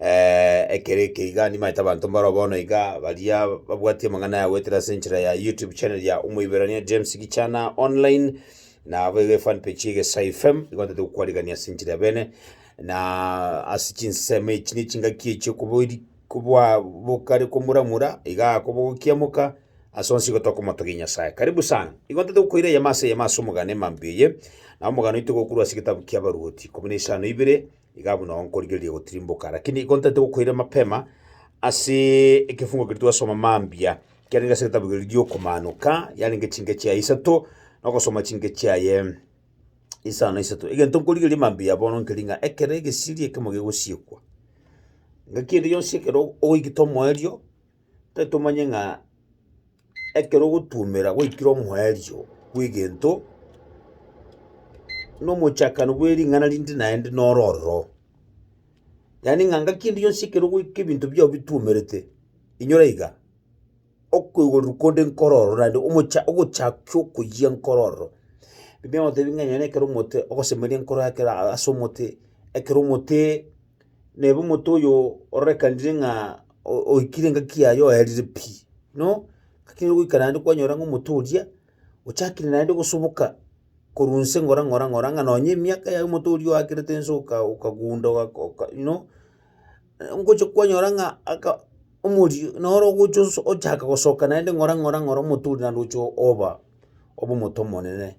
ekero eke iga nimaete abanto mbaro bono iga baria babwati amang'ana aya goetera ase enchera ya youtube channel ya omoiberania James Gichana online, nabo iga efan page ya egesaai fm igo ntagete gokwarigania ase enchera y'abene na ase chinsemo echi na echingaki echi okobori kobwa bokare komuramura iga kobogokiamoka ase onsi igo tokomotogia Nyasaye. Karibu sana, igo ntagete gokoira eyemo ase eyemo ase omogano emambia eye, na omogano oito iga okorwa ase egetabu ki'Abaruoti ikomi na isano ibere. Iga buna nkorigereria gotirimboka, lakini igo ntaete gokoira mapema ase ekefungo keria twasoma mambia, kiarenge ase egetabu keria giokomanoka, yarenge chingecho yaye isato, na ogosoma chingecho yaye isano na isato. Egento nkorigereria mambia bono nkeria ng'a ekero egesiri ekemo gegosiekwa, ng'aki ende yonsi ekero ogoita omoerio, ntaete omanye ng'a. Ekero ogotuomera gwaikire omoerio bw'egento, na omochakano bwe ring'ana rinde naende noro ororo. Yaani ng'a ngaki ende yonsi ekero goika ebinto biao bituomerete, inyora iga, okoigorwa konde nkoro ororo naende omocha ogochakia okoyia nkoro ororo. Ebi nababwate bing'ainene ekero omote ogosemeria nkoro ekero aa ase omote, ekero omote. neba omonto oyo ororekanire ng'a o- oikire engaki yaye oerire pi. No, ngaki nigo ogoikara naende kwanyora ng'a omonto oria, ochakire naende gosoboka korwa nse ng'ora ng'ora ng'ora ng'a nonye emiaka yaye omonto oria oakerete nse oka- okagunda ogako oka you know, ngocha kwanyora ng'a aka omorio noro ogocha oso ochaka gosoka naende ng'ora ng'ora ng'ora omonto oria naende ogocha oba obe omonto omonene.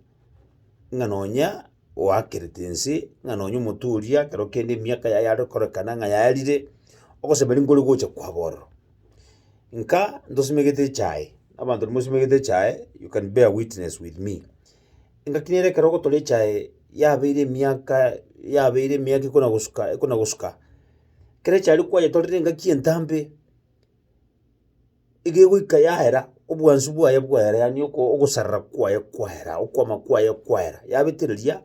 ng'a nonya oakerete ense, ng'a nonya omonto oria ekero kende emiaka yaye yare korekana ng'a yarire, ogosemeri nkore gocha kwabo ororo. Nka ntosimegete echae, abanto nimosimegete echae, you can bear witness with me, engaki nere ekero ogotoria echae yabeire emiaka yabeire emiaka ekona gosuka ekona gosuka, kera echae riria kwayetorire engaki entambe. iga egoika yaera, obwansu bwaye bwaera yaani oko ogosarera kwaye kwaera, okwama kwaye kwaera, yabetereria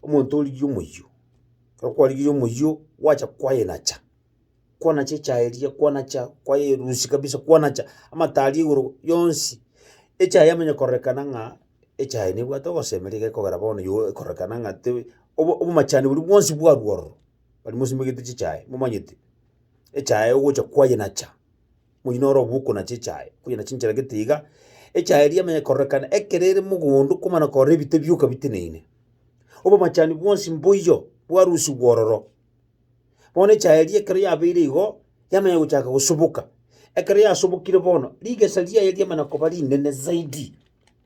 omonto origia omoyio. Ekero kwarigirie omoyio, gwacha kwayenacha, kwanacha echaye eria kwanacha kwayerusia kabisa kwanacha amate aria igoro yonsi, echaye yamanya kororekana ng'a echaye nebwate ogosemi niga ekogera bono yooh ekororekana ng'a tebe obo obomachani boria bwonsi bwarwa ororo, bari mosimegete chichae momanyete, echae ogocha kwayenacha. moino ore obuko na chichae, onye na chinchera gete iga, echae eria emenye kororekana ekero ere mogondo komana korora ebite bioka biteneine. Obomachani bwonsi mboiyo bwarusigwe ororo. Bono echae eria ekero yabeire igo, yamanya gochaka gosoboka. Ekero yasobokire bono, rigesa riaye riamana koba rinene zaidi,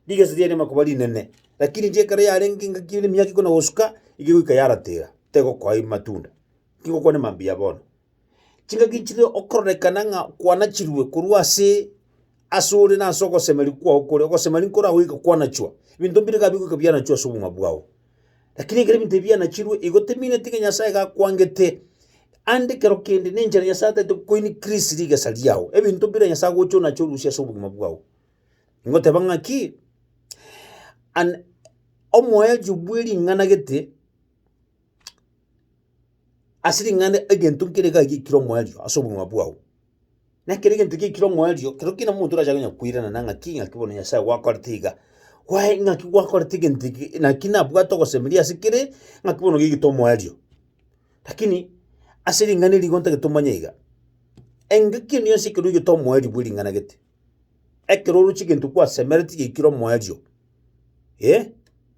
rigesa riaye riamana koba rinene. Rakini inche ekero yarenge engaki emiaka ikomi na gosuka, igo egoika yaratera, tegokoa matunda. tigokwane mambia bono. Chingaki nchire okororekana ng'a kwanachirwe korwa ase ase ore na ase ogosemeria kwao kore, ogosemeria nkora goika kwanachwa, ebinto mbire iga bigoika bianachwa ase obogima bwao. Lakini ekero ebinto ebi bianachirwe, igo tebimineti ng'a Nyasaye iga akwangete, ande ekero kende na enchera Nyasaye ataete ko increase rigesa riao, ebinto bire Nyasaye agocha onache orusie ase obogima bwao. Ngoteba ng'a ki, an omoerio bwe ring'ana gete. ase ring'ana egento nkere iga giaikire omoerio ase obogima bwao. Na ekero egento giaikire omoerio, kero kegima omonto orache konya koirana ng'aki ng'aki bono Nyasae gwakorete iga, kwae ng'aki gwakorete egento eke, naki nabwate ogosemeria ase kere, ng'aki bono oigete omoerio. Lakini ase ring'ana eri igo ntagete omanye iga, engaki engiya yonsi ekero oigete omoerio bwe ring'ana gete. Ekero oroche egento kwasemereti giaikire omoerio, eh,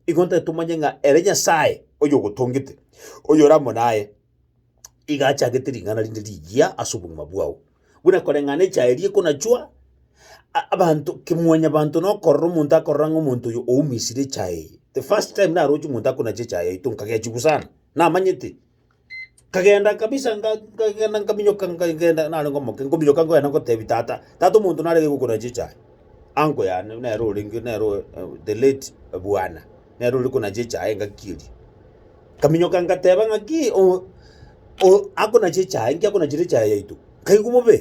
igo ntari tomanye ng'a ere Nyasaye oyogotongete, oyore amo naye, iga achagete ring'ana rinde rigiya ase obogima bwao. Buna koreng'ana echaye eria ekonachwa, a- abanto kemwanyabanto na okorora omonto akorora ng'a omonto oyo oumisire echaye eye. The first time naroche omonto akonacha echaye yaito nkagechiwa sana, namanyete, Nkagenda kabisa nga- nkagenda nkaminyoka nkagenda narenge omoke nkominyoka nkogenda ngotebia tata, tata omonto narenge gokora chichae, uncle yane nere orenge nere oe the late bwana, nere ore kona chichae engaki eria. Nkaminyoka ngateba ng'aki o- o akona chichae, nki akonachire echae yaito? Nkaigwa bobe.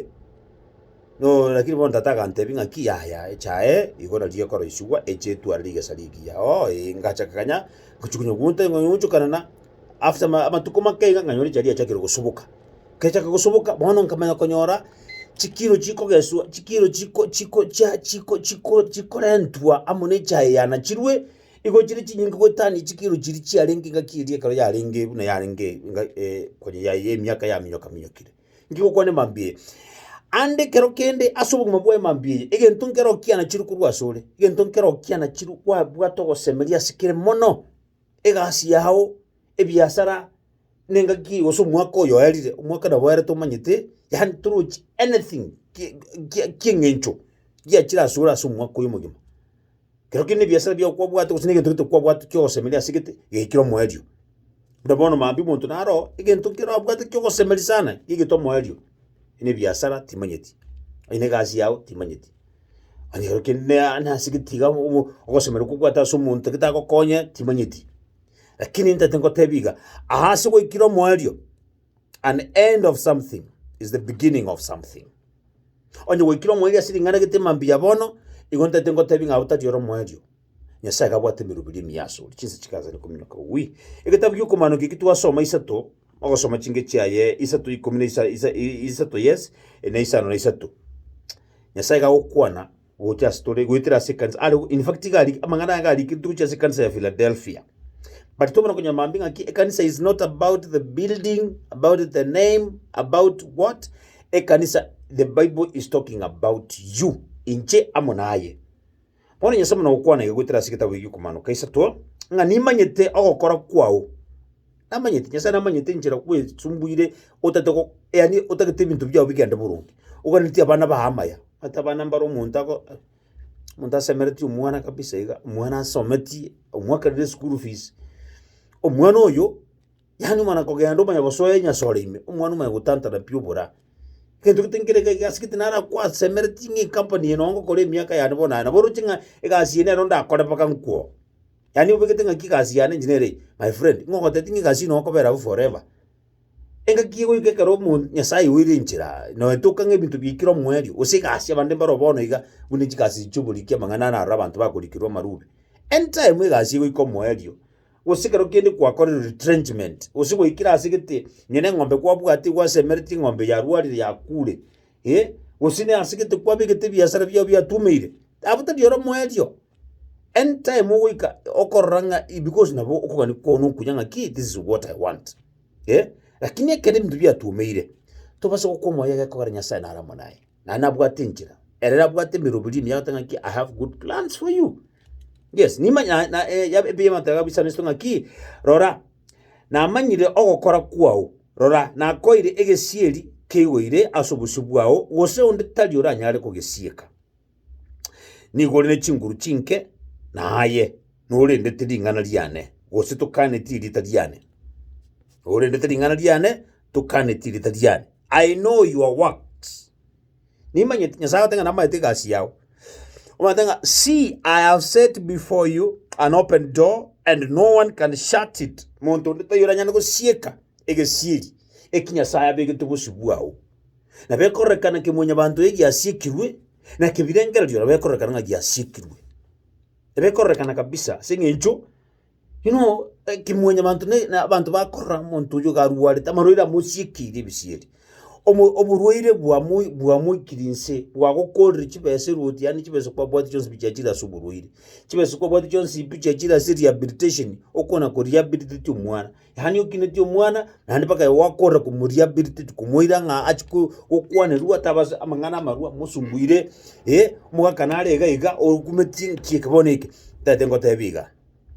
Nooo lakini bono tata agantebi ng'aki yaya echae igo nario ekoroisigwa eche etwarire rigesa rigiya oo ee ngacha kanya ngochi konya gounta ing'we gochokana na after ma amatuko make iga nganyora echae riachakire gosoboka, keriachaka gosoboka bono nkamanya konyora chikiro chikogeswa chikiro chiko chiko chia chiko chiko chikorentwa amo na echae eye yanachirwe, igo chire chinyinge goetania chikiro chiria chiarenge ng'aki eria ekero yarenge buna yarenge ng'a konya ya emiaka yaminyoka minyokire. Ngigokwane mambia eye, aande ekero kende ase obogima bwaye mambia eye, egento nkero kianachire korwa ase ore, egento nkero kianachire kwabwate ogosemeria ase kere mono, egasi yao, ebiasara, na engaki eye gose omwaka oyo oerire, omwaka nabo oerete omanyete, yaani torochi anything ki- ki- kieng'encho giachire ase ore ase omwaka oyo omogima. Kero kende nebiasara biago kwabwate gose negento gete kwabwate ki'ogosemeria ase gete, gekire omoerio. Buna bono maambia omonto naro oo, egento kero abwate ki'ogosemeria sana, gegete omoerio. Onye nebiasara timanyeti, onye negasi yago timanyeti, onye kero kende na- nase gete iga obo- obo ogosemeria kobwate ase omonto gete agokonye timanyeti. Lakini ntachandete ngotebie iga, aase gwaikire omoerio. An end of something is the beginning of something. Onye gwaikire omoerio ase ring'ana gete mambia bono, igo ntaete ngotebi ng'a otari ore omoerio. Nyasaye gabwate emeruberi emiya ase ore, chinsa chigaachana kominyoka wi. Egetabu gi'okomanokio eki twasoma isato, ogosoma chinke chiaye isato ikomi na isa, isa, i- isato yes, na isano na isato. Nyasaye gagokwana gocha ase tore goetera ase ekanisa are in fact iga ari- amang'ana aya iga arikirite gochia ase ekanisa ya Philadelphia but tobona konya mambia ng'aki ekanisa is not about the building about the name about what ekanisa the bible is talking about you inche amo naye bono nyasae buna gokwana iga goetera ase egetabu egikomanoka isato ng'a nimanyete ogokora kwao. Namanyete, Nyasae namanyete enchera kwesumbuire otate go yaani otagete ebinto biao bigende boronge, oganeti abana bago amaya, omanyete abana mbaro omonto ago omonto asemeretie omwana kabisa iga, omwana asometie, omwakerire school fees, omwana oyo yaani omana kogenda omanya gosoa enyasore ime, omwana omanya gotantana pi oboraa. Egento gete nkere iga egasi gete naro kwasemeretie ng'a ecompany eye nonye ngokora emiaka yane bono aye, nabo oroche ng'a egasi eye nero ndakore mpaka nkwo. Yaani obegete ng'aki egasi yane inche nere eye, my friend, ng'a ogoteti ng'a egasi eye nokobera abwo forever. Engaki egoika ekero omo Nyasaye oire enchera noetoka ng'a ebinto biaikire omoerio, gose egasi abande mbaro bono iga, buna chigasi chi'oboriki amang'ana aroro abanto bakorikerwa amarube. Any time egasi egoika omoerio, gose ekero kende kwakorire retrenchment, gose gwaikire ase gete, nonya na eng'ombe kwabwate gwasemeretie eng'ombe yarwarire yakure. ee, gose nasegete kwabegete ebiasara biao biatumeire, abwo tari oro moerio. Anytime ogoika okorora ng'a i because nabo okogani kwao na okuya ng'aki this is what I want eh, lakini ekero ebinto biatumeire, tobasa gokwa omoyo egekogera Nyasaye nare amo naye, naye nabwate enchera, ere abwate emeroberi ime agoteba ng'aki I have good plans for you, yes, nima na na eya ebiya ebiamateba bisanesetwe ng'aki rora. Namanyire ogokora kwao, rora, nakoeire egesieri keigoire ase obosio bwao, gose onde tari oranyare kogesieka. Nigo ore ne chinguru chinke, na aye norendete ring'ana riane, gose tokanetie erieta riane. Norendete ring'ana riane, tokanetie erieta riane. I know your works. Nimanyeti Nyasae agoteba ng'a namanyete egasi yao. Omanyete ng'a see I have set before you an open door and no one can shut it. Monto onde taiyo oranyare gosieka egesieri eki Nyasae abegete bosio bwao. Nabo ekororekana kemwanyabanto eye giasiekirwe, na kebirengererio nabo ekororekana ng'a giasiekirwe. Nabo ekororekana kabisa ase eng'encho Buna ekemwanyabanto na na abanto bakorora omonto oyio iga arwarete, amarwaire amochikiire ebisieri, omo oborwaire bwamoi bwamoikire inse, bwagokoorire chibesa erwoti yaani chibesa kwabwati chionsi pi chiachire ase oborwaire. Chibesa kwabwati chionsi pi chiachire ase rehabilitation, okwana korehabilitate omwana. Yaani okinetie omwana naende mpaka igo gwakorera komoria birthday komoira ng'a achi ko- gokwanerwa ataba ase amang'ana amarwa mosumbuire eh, omogaka nare iga iga okumeti nki eke bono eke, ntagete ngotebie iga.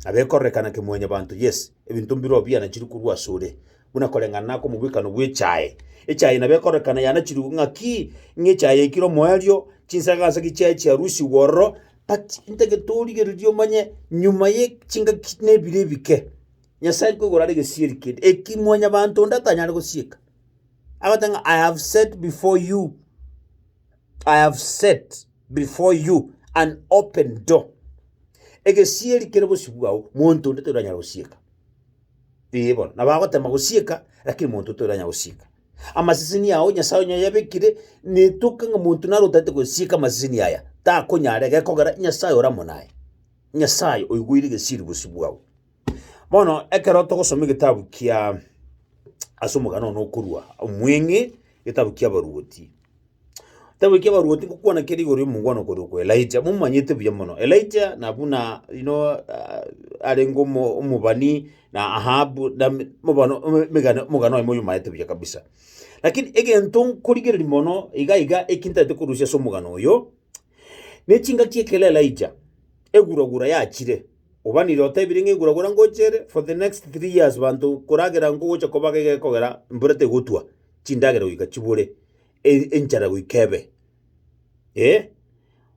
Nabo ekororekana kemwanyabanto yes, ebinto mbire oo biana chiri korwa ase ore, buna koreng'ana na akomobwekano bw'echae. Echae nabo ekororekana yanachirwe ng'aki, ng'a echae yaikire omoerio, chinsaga nsa ki chiaye chiarusigwa ororo but ntagete origereria omanye nyuma ye chingaki na ebiro ebike. Nyasae nkoigwera are egesieri kende eki mwanyabanto onde atanyare gosieka, agote ng'a I have set before you, I have set before you an open door. Egesieri kere bosio bwao, monto onde toranyare gosieka. Ee bono, nabo agotema gosieka, lakini monto toranya gosieka. Amaseseni ao Nyasae onye oyabekire, netoke ng'a monto nare otaete gosieka amaseseni aya, takonyara, egekogera Nyasae oramo naye. Nyasae oigwere egesieri bosio bwao. Bono ekero togosoma egetabu kiaa ase omogano one okorwa omweng'e, getabu kia Abaruoti. Ketabu kia Abaruoti ngokwana kere igoro y'omongwana okorwa oko Elijah, momanyete buya mono. Elijah na buna you know ah, arenge omo- omobani na Ahabu na me- mobano ome- megane- omogano oye moyomaete buya kabisa. Lakini egento nkorigereria mono iga iga eki ntaete korusia ase omogano oyo, ne chingaki ekero Elijah eguragura yachire, Obanire otebire ng'a engura gora ngocha ere for the next three years banto koragera nkogocha kobaga iga ekogera mbura tegotwa, chindagera goika chibore, e- enchara goika ebe. Eh,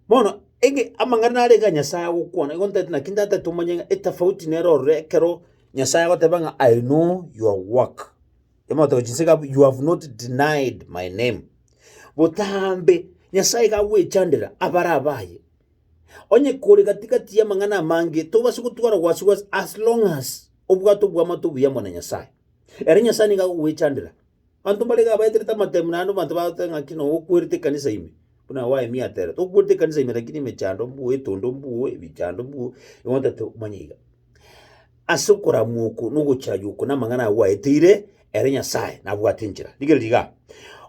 bono ege amang'ana narenge ya Nyasae agokwana, igo ntaete naki ntataete tomanye ng'a etafauti nere ororo ekero Nyasae agoteba ng'a I know your work, emotego chinsinke abwo you have not denied my name. Botambe, Nyasae iga agwechandera abare abaye. Onye kore gati gati y'amang'ana amange, tobase gotwara wasiwasi as long as obwate obwamato obuya amo na Nyasaye. Ere Nyasaye nigo agogwechandera. Abanto mbare iga abaeterete amatemu naende abanto bagoteba ng'aki nonya okwerete ekanisa ime, buna Waemi aterete, okwerete ekanisa ime lakini emechando mbuo, etondo mbuo, ebichando mbuo, igo ntotete omanye iga. Ase okoramwa oko na ogochaywa oko namang'ana agwo aeteire, ere Nyasae nabwate enchera. Rigereria igaa,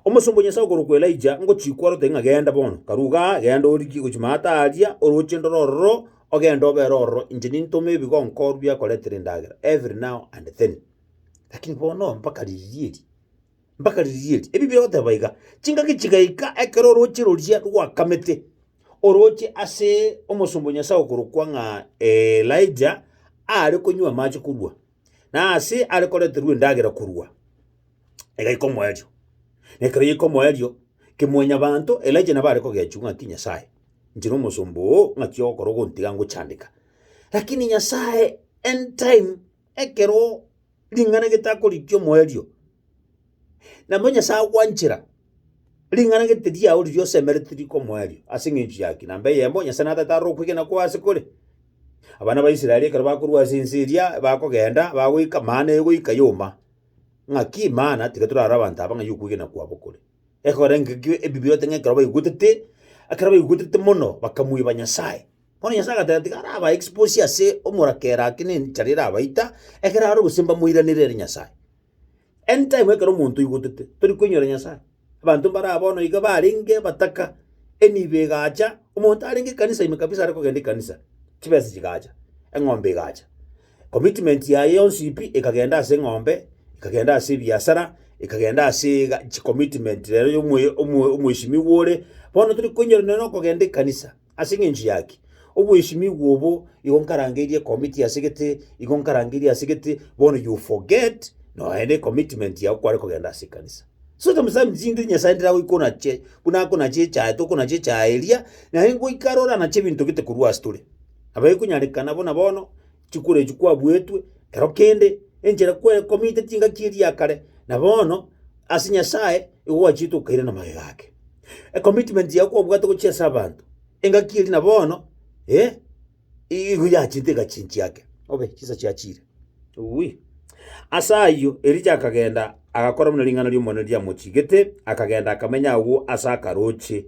omosomba o Nyasae okorokwa Elija ngochia kwarorete ng'a genda bono, karwa igaa, genda origie gochia maata aaria, oroche ndore ororo, ogende obere ororo, inche nintome ebigonkorwa biakoretera endagera, every now and then. Lakini bono mpaka riria eri, mpaka riria eri. Ebi bigoteba iga, Chingaki chigaika ekero orooche roria rwakamete, orooche ase omosomba o Nyasae okorokwa ng'a Elija aare konywa amache korwa, na aase are koreterwa endagera korwa, egaika omoerio. Na ekero yaika omoerio, kemwanyabanto Elija nabo are kogechiwa ng'aki Nyasae, inche nomosomba oo ng'aki ogokora ogontiga ngochandeka. Lakini Nyasae end time. Ekero ring'ana getakorigia omoerio, nabo Nyasae agwanchera, ring'ana gete riao riria osemerete riko omoerio ase eng'encho ya ki? Namba eyemo, Nyasae na tata arore okwegena kwao ase kore. Abana ba Israeli ekero bakorwa ase ense eria, bakogenda, bagoika mana egoika yoma. Ng'aki mana, tiga torare abanto aba ng'ai okwegena kwabo kore. Ekorengekio ebibe oteba ng'a ekero baigwetete, ekero baigwetete mono, bakamweba Nyasae. Bono Nyasae agateba, Tiga arabae exposi ase omorakera ake ne enchara erabaita, ekero aroro gose mbamoiranere ere Nyasae. End time ekero omonto oigotete, tori koinyora Nyasae, abanto mbaraa bono iga barenge abataka, enibo egacha, omonto arenge ekanisa ime kabisa are kogenda ekanisa, chibesa chigacha, eng'ombe egacha, commitment yaye yonsi pi ekagenda ase eng'ombe, ekagenda ase ebiasara, ekagenda asee ga chicommitment rero ya omoyo omo omoesimigwa ore, bono tori koinyora nonye na okogenda ekanisa. Ase engencho y'aki, obwesimigwa obo igo nkarangeirie committee ase gete, igo nkarangeirie ase gete, bono you forget noe ne commitment yago kware kogenda ase ekanisa. So sometimes chingiri Nyasae ndire agoika onache, buna akonache echaye toka onache echaye eria, naende ngoika arore anache ebinto gete korwa ase tore. Nabo ekonyarekana buna bono. Chikura echio kwabuetwe ekero kende, enchera kwekomete chingaki eria ya kare, na bono ase Nyasae igo gwachiete okairana magega ake. Ecommitment yago kwabwate gochia ase abanto, engaki eria na bono eh, igo yachiete egachia enchiake, obe chinsa chiachire uwi. Ase ayio Elija akagenda agakora buna ring'ana ri'Omonene riamochigete, akagenda akamenya agwo ase akaroche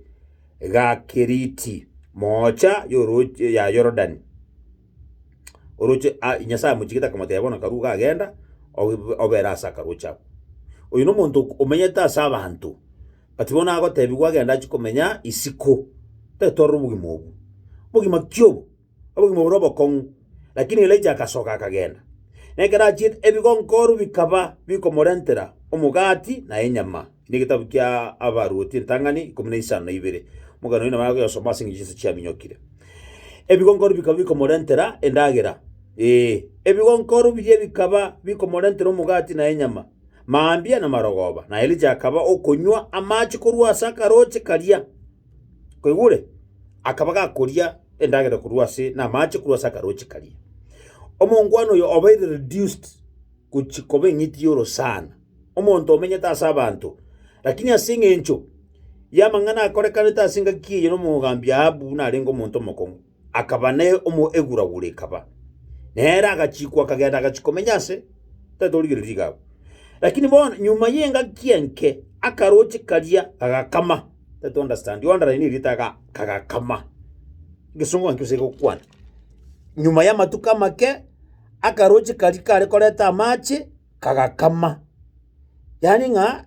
ga Keriti, moocha y'oroche ya Yorodani. Oroche a Nyasae amochigete akamotebia, Bono akarua iga agenda, obe obere ase akaroche ako. Oyo nomonto ok omenyete ase abanto, but bono agotebigwa agende achie komenya isiko, tatorora obogima obwo. Obogima ki obo? Obogima bore obokong'u. Lakini Elijah agasoka akagenda, na ekero achiete ebigonkooro bikaba bikomorentera omogati na enyama. Ime egetabu kia Abaruoti eritang'ani ikomi na isano na ibere. Omogeni oino nabare koyosoma ase engencho yonsi chiaminyokire. Ebigongoro bikaba bikomorentera endagera, ee, ebigongoro biria bikaba bikomorentera omogati na enyama, mambia na marogoba, na Elija akaba okonywa amache korwa ase akaroche karia. Koigure? Akaba gakoria endagera korwa ase, na amache korwa ase akaroche karia. Omongwana oyo obaire reduced gochia koba eng'iti y'orosana. omonto omenyete ase abanto, lakini ase engencho y'amang'ana akorekanete ase engaki eye n'omogambi Ahabu narenge omonto omokong'u, akaba ne omo eguragura ekaba. Nere agachikwa akagenda agachia komenya ase, tatorigereria igaabu. Lakini bono nyuma y'engaki enke akaroche karia kagakama, tatu understand, you underline erio taga kagakama. Egesongo ng'aki gose egokwana. Nyuma y'amatuko amake akaroche karia kare koreta amache. kagakama, yaani ng'a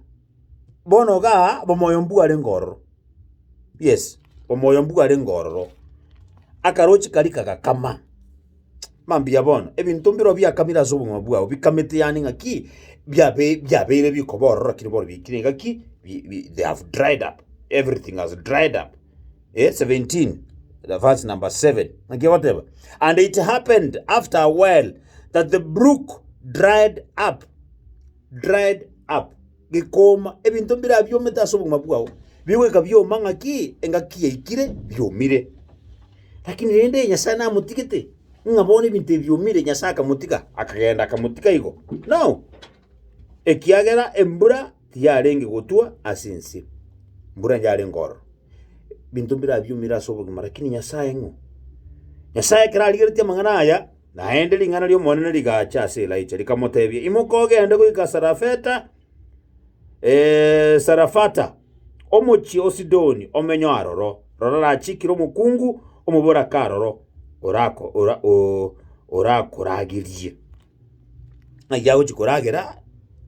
bono iga omoyo mbwarenge ororo, yes, omoyo mbwarenge ororo, akarochi karia kagakama, mambia bono, ebinto mbirobio biakamire ase obogima bwao bikamete yaani ng'a ki, biabe biabeire bikoba ororo lakini bono bikire ng'a ki bi bi they have dried up, everything has dried up. Eh, 17, the verse number 7. Naki agoteba, And it happened after a while that the brook dried up, dried up, gikoma, ebinto mbira biomete ase obogima bwao, bigoika bioma ng'aki engaki yaikire biomire. Lakini rende Nyasae namotigete, ng'a bono ebinto ebi biomire, Nyasae akamotiga, akagenda akamotiga igo. No, ekiagera embura tiyarenge gotwa ase ense, mbura yarenge ororo, binto mbirabiumire ase obogima, rakini Nyasae ng'o? Nyasae ekero arigeretie amang'ana aya, naende ring'ana ri'Omonene rigacha ase Elaija, rikamotebia, Imoka ogende goika Sarafeta, Sarafata, omochie o Sidoni, omenye aroro. Rora rachikire omokungu, omoborake aroro, orako, ora, o, orakoragerie. ng'ai agochia koragera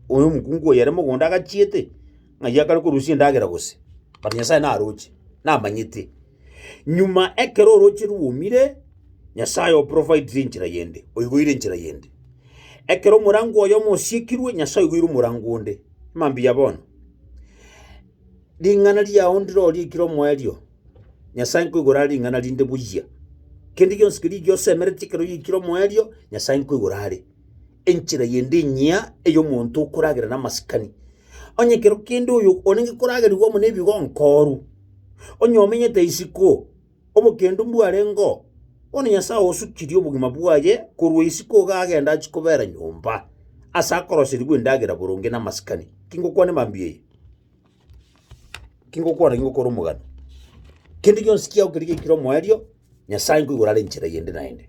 oyo omokungu oyo ere mogondo agachiete, ng'ai akare korusia endagera gose, but Nyasaye naroche, namanyete. Nyuma ekero oroche rwomire, Nyasaye oprovaidire enchera yende, oiboire enchera yende. Ekero omorango oyomo osiekirwe, Nyasaye oiboire omorango onde, mambia bono. Ring'ana riao ndirorie ekire omoerio, Nyasae nkoigora are ring'ana rinde buya. Kende gionsi keria ekio osemerete ekero oyoikire omoerio, Nyasae nkoigora are. Enchera yende enyia ey'omonto okoragera namasikani. Onye ekero kende oyo orenge koragerigwa amo nebigonkoru, onye omenyete isiko, Obokendu mbwarengeo, bono Nyasae osukirie obogima bwaye korwa isiko iga agenda achie kobera nyomba, ase akoroserigwa endagera boronge namasikani. Kingokwana emambia eye, kingokwana kingokora omogano, kende gionsi kiao keria giaikire omoerio, Nyasae nkoigwera are enchera eyende naende.